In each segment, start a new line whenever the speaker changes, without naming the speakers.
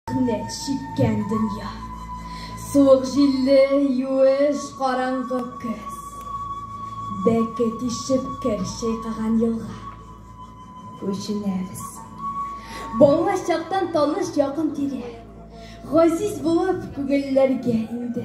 Кнек чиккән дөнья. Суык җилле, юеш, караңгы көз. Бәке тишеп кер чайкаган елга. Күченәбез. Бала чактан таныш якын тирә. Газиз булып күгелләргә инде.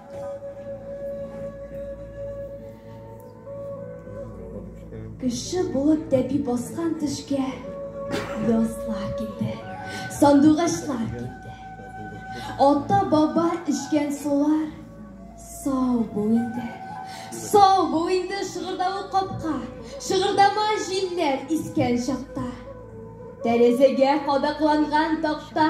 Кеше булып тәпи баскан төшкә язлар килде, сандугачлар килде. Ата баба эчкән сулар сау бул инде. Сау бул инде шыгырдавы капка, шыгырдама җилләр искән чакта. Тәрәзәгә кадакланган такта.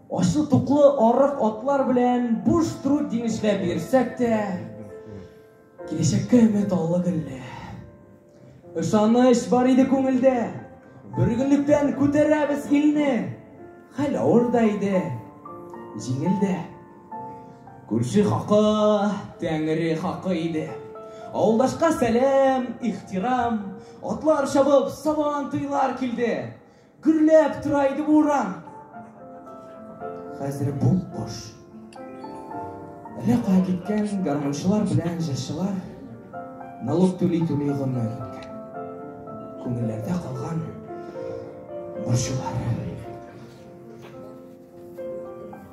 Ачлы-туклы арык атлар белән буш труд диңгешләп йөрсәк тә, киләчәккә өмет аллы гөлле. Ышаныч бар иде күңелдә, бөргенлектән күтәрәбез илне. Хәл авыр да иде, җиңел дә. Күрше хакы, тәңре хакы иде. Авылдашка сәлам, ихтирам, атлар чабып, сабан туйлар килде. Гөрләп тора иде бу урам. Хәзер бу кош. Әллә кая киткән гармунчылар белән җырчылар налог түли түли гомер үткән. Күңелләрдә калган борчулар.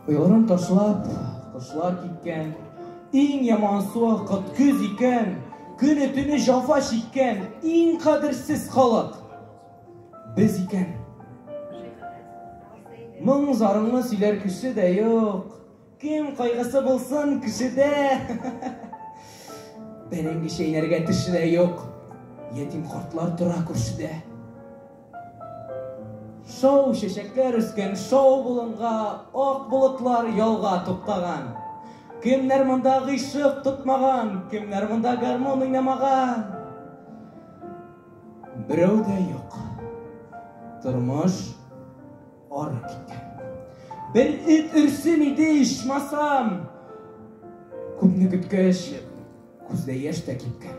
Уйларын ташлап, кошлар киткән. Иң яман суа кыт көз икән. Көне-төне җафа чиккән, иң кадерсез халык. Без икән. Моң зарыңны сөйләр кеше дә юк. Кем кайгысы булсын кешедә. Бәрәңге чәйнәргә теше дә юк. Ятим картлар тора күршедә. Шау чәчәкләр үскән шау болынга, ак болытлар ялга туктаган. Кемнәр монда гыйшык тотмаган, кемнәр монда гармон уйнамаган? Берәү дә юк. Тормыш ары киткән. Бер эт өрсен иде, ичмасам. Күпне көткәч, күздә яшь тә кипкән.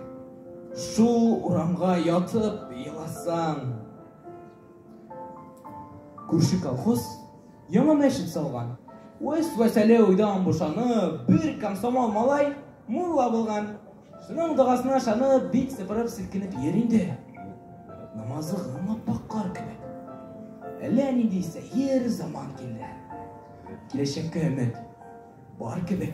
Шул урамга ятып еласам. Күрше колхоз яңа мәчет салган. Вәс-вәсәле уйдан бушанып, бер комсомол малай мулла булган. Шуның догасына ышанып, бик сыпырып селкенеп йөр инде. Намазы гына паккар кебек. Әллә нинди сәер заман килде. Киләчәккә өмет бар кебек.